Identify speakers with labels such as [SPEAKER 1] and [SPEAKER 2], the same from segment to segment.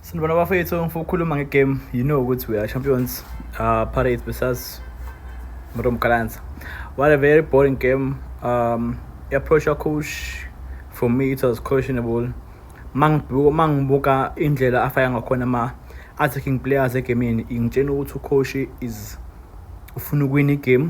[SPEAKER 1] Sanibona bafethu ngifuna ukukhuluma ngegame you know ukuthi we are champions uh, Pirates versus Mrom Kalanza what a very boring game um approach your coach for me it was questionable mangibuka mangibuka indlela afaya ngakhona ama attacking players egamini ingitshena ukuthi ucoach is ufuna ukwina igame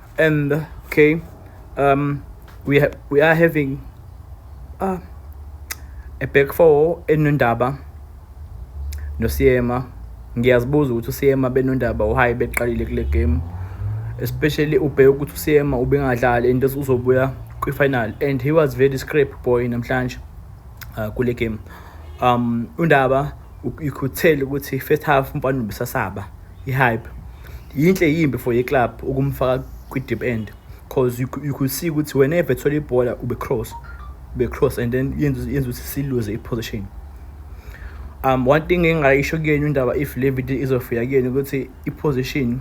[SPEAKER 1] and okay um we ha we are having uh, a back four enondaba nosiyema ngiyazibuza ukuthi usiyema benondaba uhayi beqalile kule game especially ubheke ukuthi usiyema ubengadlali and uzobuya kwi-final and he was very scrape boy namhlanje uh, kule game um undaba you could tell ukuthi first half umfana ubusasaba I-hype yinhle yimbi for i-club ukumfaka kwi-deep end because you, you could see ukuthi whenever ethola ibhola ube-cross ube-cross and then yenza ukuthi siluze i-position um one thing engingayisho kuyena indaba if le video izofika kuyena ukuthi i-position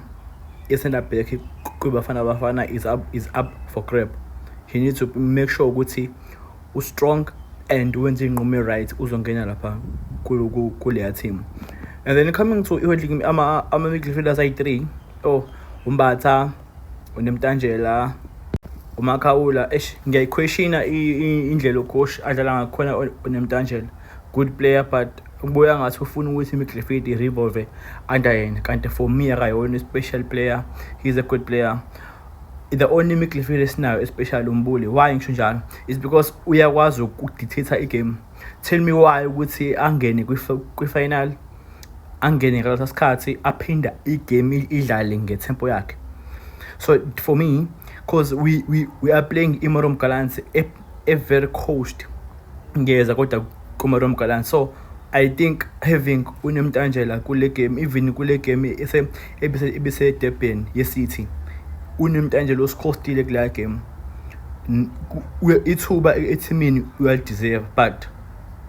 [SPEAKER 1] ye-center back kwibafana bafana is up, is up for grab he needs to make sure ukuthi ustrong and wenze iy'nqumo e-right uzongena lapha kuleya team and then coming to ama-midfielders ayi-three oh umbatha unemtanjela umakhawula eish ngiyayiquestiona indlela ucoach adlala ngakhona unemtanjela good player but kubuya ngathi ufuna ukuthi imidlifidi i-revolve under yena kanti for me akayona i-special player he's a good player the only midfield esinayo especially umbuli why ngisho njalo is because uyakwazi ukudictator igame tell me why ukuthi angene kwi-final angene ngalesa sikhathi aphinda igame idlale ngetempo yakhe so for me because we, we, we are playing imorom galansi Ivory Coast ngiyeza kodwa kuMarom Gallant so I think having uNemtanjela kule game even kule game ese ebise ebise Durban yeCity uNemtanjela usikhostile kula game ithuba ethimini uyalideserve but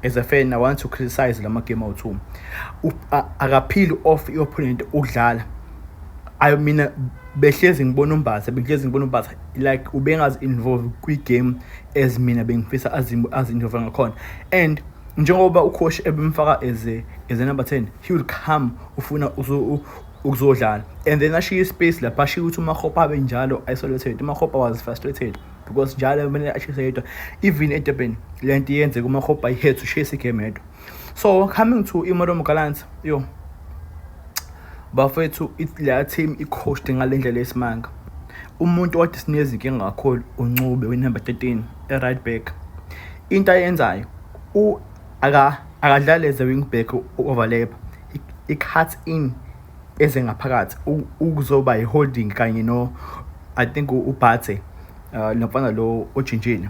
[SPEAKER 1] as a fan i want to criticize lama game awu-two akaphili off i-opponent ukudlala ayo mina behlezi ngibona umbasa behlezi ngibona umbasa like ubengazi-involve kwi-game as mina bengifisa azi-involve ngakhona and njengoba ucoach ebemfaka as a, as a number 10 he will come ufuna ukuzodlala and then ashiye ispace lapha ashiye ukuthi umahopa abe njalo isolated umahopa was frustrated because njalo kumele ashise yedwa even edurban le nto iyenzeka umahopa iheads ushayisa igame yedwa so coming to imorom gallant yo bafethu la team i-coached ngale ndlela yesimanga umuntu othi sinezinkinga kakhulu uncube winumber 13 e-right back into ayenzayo akadlali as a wing back overlap i-cut in eze ngaphakathi ukuzoba yi-holding kanye no i think ubhathe uh, lo mfana lo ojintshile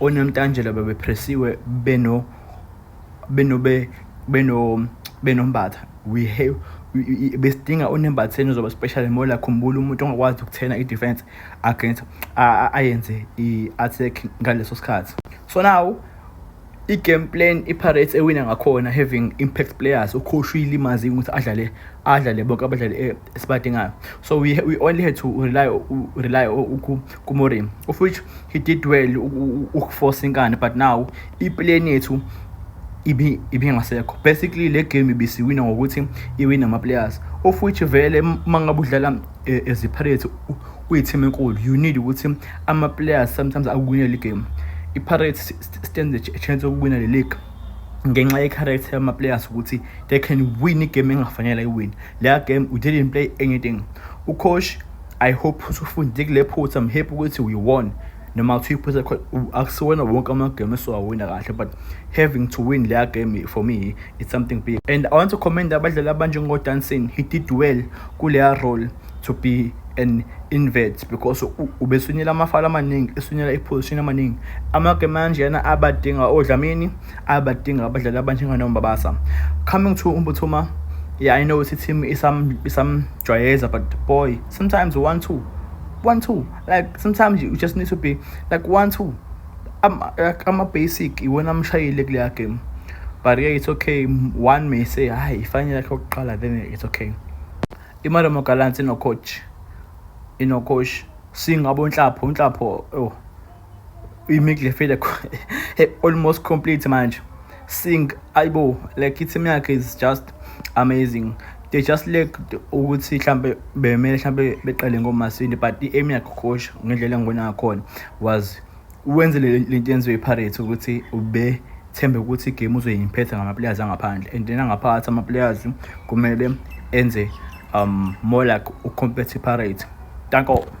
[SPEAKER 1] onomtanjela bebepressiwe beno benobe beno benombatha we have besidinga unembatheni uzoba special mola khumbula umuntu ongakwazi ukuthena i-defense against ayenze i-attack ngaleso sikhathi so now I-game plan iPirates ewina ngakhona having impact players ucoach uyilimazi ukuthi adlale adlale bonke abadlali eh, esibadingayo so we, we only had to rely rely kuMorim of which he did well ukuforce inkani but now iplan yethu ibi ibingasekho basically le game ibisiwina ngokuthi iwina ama players of which vele mangabe udlala eh, as a Pirates uyi team enkulu you need ukuthi ama players sometimes akuwinele i game i Pirates stands a chance yokuwina le league ngenxa ye-character yama-players ukuthi they can win igame engafanele iwin leya game we didn't play anything ucoach i hope usufundile kule phutha i'm happy ukuthi we won noma kuthiwa iphutha akusiwona wonke amagame esiwawina kahle but having to win leya game for me it's something big and i want to commend abadlali abanjengodanson he did well kuleya role to be an invert because ubesunyela amafala amaningi esunyela iposition amaningi amake manje yana abadinga odlamini abadinga abadlali abanjenganombabasa coming to umbuthuma yeah i know ukuthi team isam isamjwayeza but boy sometimes one two one two like sometimes you just need to be like one two ama-basic iwona amshayile kuleya game but yeah it's okay one may say hayi ifanele yakhe yokuqala then it's okay IMarumo Gallants inocoach inocoach singabo unhlapho unhlapho oh imidlefile almost complete manje sing ayibo like i-team yakhe is just amazing they just lack ukuthi mhlambe bemele mhlambe beqale ngomasini but i-aim yakhe coach ngendlela engibona ngakhona was Wenze le nto yenziwe iPirates ukuthi ube thembe ukuthi igame uzoyimphetha ngamaplayers angaphandle and then angaphakathi amaplayers kumele enze um more like ucompete iPirates. Danko.